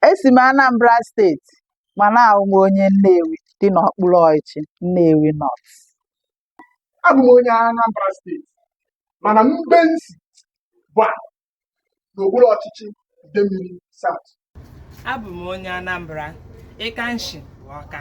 esi m Anambra steeti mana ahụ m onye Nnewi dị n'okpuru ọchịchị Nnewi North abụ m onye Anambra steeti mana mbe m si bụ Ọba n'okpuru ọchịchị Idemili South abụ m onye Anambra ịka m shi Ọka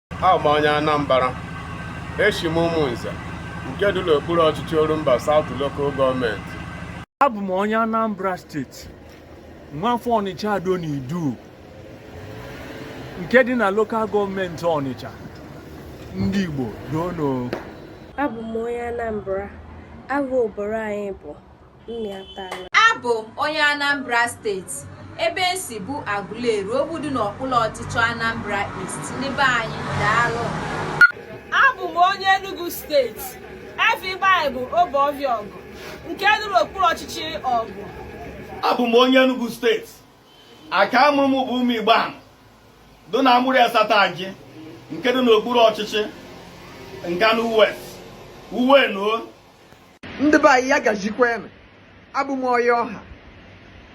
Abụ m onye Anambra, eshi m Ụmụnze nke dị n'okpuru ọchịchị Orumba South Local Gọọmenti. Abụ m onye Anambra steeti, nwafọ Ọnịcha Ado na Idu nke dị na lokal gọọmenti Ọnịcha, ndị Igbo dono. Abụ m onye Anambra, aha obodo anyị bụ abụ m onye anambra steeti ebe esi bụ aguleri ogbu dị n'okpuru ọchịchị anambra east ndị be anyị daalụ abụ m onye enugu steeti efa be anyị bụ obuọvịa ọgụ nke dị n'okpuru ọchịchị ọgụ abụ m onye enugu steeti aka a mụrụ m bụ ụmụigbo ahụ dị na amurri asata gị nke dị n'okpuru ọchịchị nkanụ west uwe nuo ndị be anyị ya gazikwanụ abụ m onye ọwa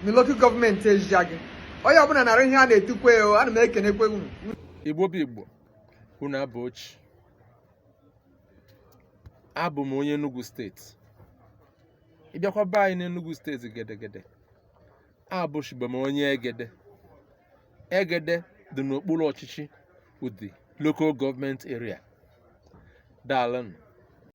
na lokal gọọmenti ezeagụ onye ọbụla nara ihe a na-etukwe o ana m ekenekwe unu igbo bụ igbo unu abọọ chi abụ m onye Enugu steeti ị bịakwa be anyị n'Enugu steeti gedegede abụchibe m onye egede egede dị n'okpuru ọchịchị udi local gọọmenti area daalụnụ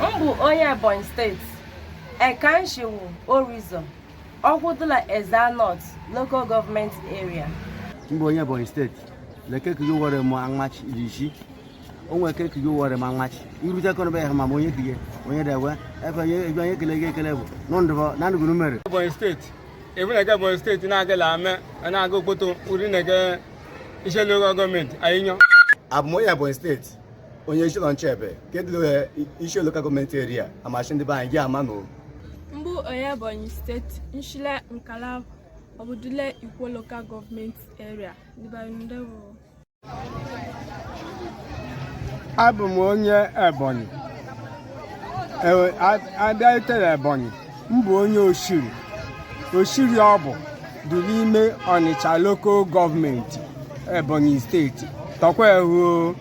m bụ onye ebonyi steeti eka m shi wụ oriuzor ọkwụ dụ la ezza north local government area m bụ onye ebonyi steeti leke ka yowere m anwachi irishi onwe ke ka yowere m anwachi irute kọnọbe ha ma m onye kiye onye dewe ebe onye ebe onye kele gị ekele bụ n'ndụbọ na ndụgụrụ mere ebonyi steeti ebunege ebonyi steeti na-agala ame na-aga okpoto uri na-ege ishielu local gọọmenti anyị nyọ abụ m onye ebonyi steeti onye eziụlọ nchebe ke dụ le ishielu lokal gọọmenti eria amachi ndị be anyị gị ama na m bụ onye ebonyi steeti m shi le nkala ọbụ dụ le ikwo lokal gọọmenti eria ndị be anyị ndị bụ abụ m onye ebonyi abịa itere ebonyi m bụ onye oshiri oshiri ọ bụ dụ l'ime ọnịcha lokal gọọmenti ebonyi steeti tọkwa ehụ o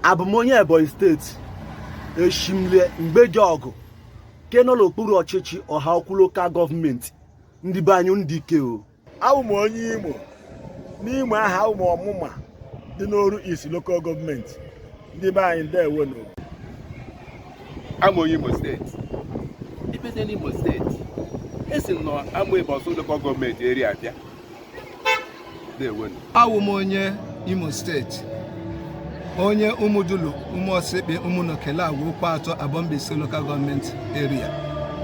abụ m onye ebonyi steeti eshi m le ngbo ejeọgụ ke nọ l'okpuru ọchịchị ọhaukwu lokal gọọmenti ndị be anyị ndị ike o awụ m onye imo n'imo ahụ awụ m ọmụma dị n'oru east local gọọmenti ndị be anyị ndewo nụ awụ m onye imo steeti ịbịate n'imo steeti esi m na amaebu ọsụ local gọọmenti eria bịa ndewo nụ awụ m onye imo steeti onye ụmụdulu ụmụọsịkpe ụmụnoke lagwa okwuatọ abọ mbaise lokal gọọmenti eria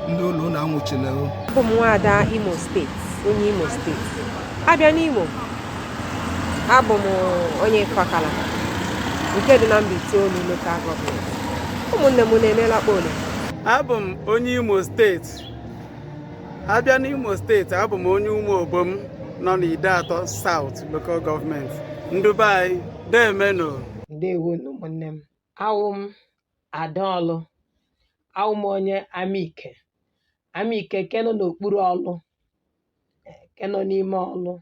ndị ụlọ unu anwụchila o abụ m nwaada imo steeti onye imo steeti abịa n'imo abụ m onye ifakala nke dị na mbaitoolu lokal gọọmenti ụmụnne m unu emela kpole abụ m onye imo steeti abịa n'Imo steeti abụ m onye Ụmụobom nọ n'Ideatọ South Local Government ndị be anyị deemenu ndewo ụmụnne m awụ m ada Ọlụ awụ m onye amike amike ke nọ n'okpuru Ọlụ ke nọ n'ime Ọlụ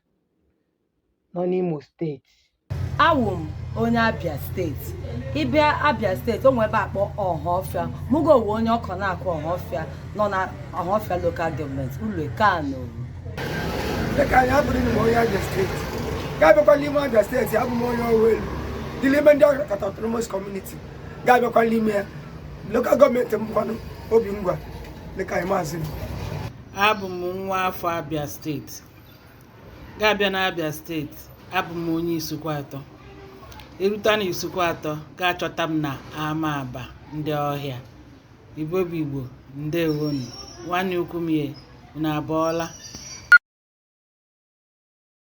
nọ n'Imo steeti awụ m onye abia steeti ịbịa abia steeti o nwe ebe a kpọ ọhafịa mụgo owe onye ọkọn akụ ọhafịa nọ na ọhafịa lokal gọọmenti unu kaa nụ ndị ke anyị abụrụ m onye abia steeti ga-abịakwa n'ime abia steeti abụ m onye owo elu dị n'ime ndịakata autonomous community ga-abịakwa n'ime ya lokal gọọmenti m bụkwanụ obingwa ndị ke anyị maazị abụ m nwa afọ abia steeti ga-abịa n'Abia steeti abụ m onye Isuikwuatọ e rute na Isuikwuatọ ga-achọta m na Amaba ndị ọhịa Igbo bụ Igbo ndewonu nwanne ukwu m ye unu abọọla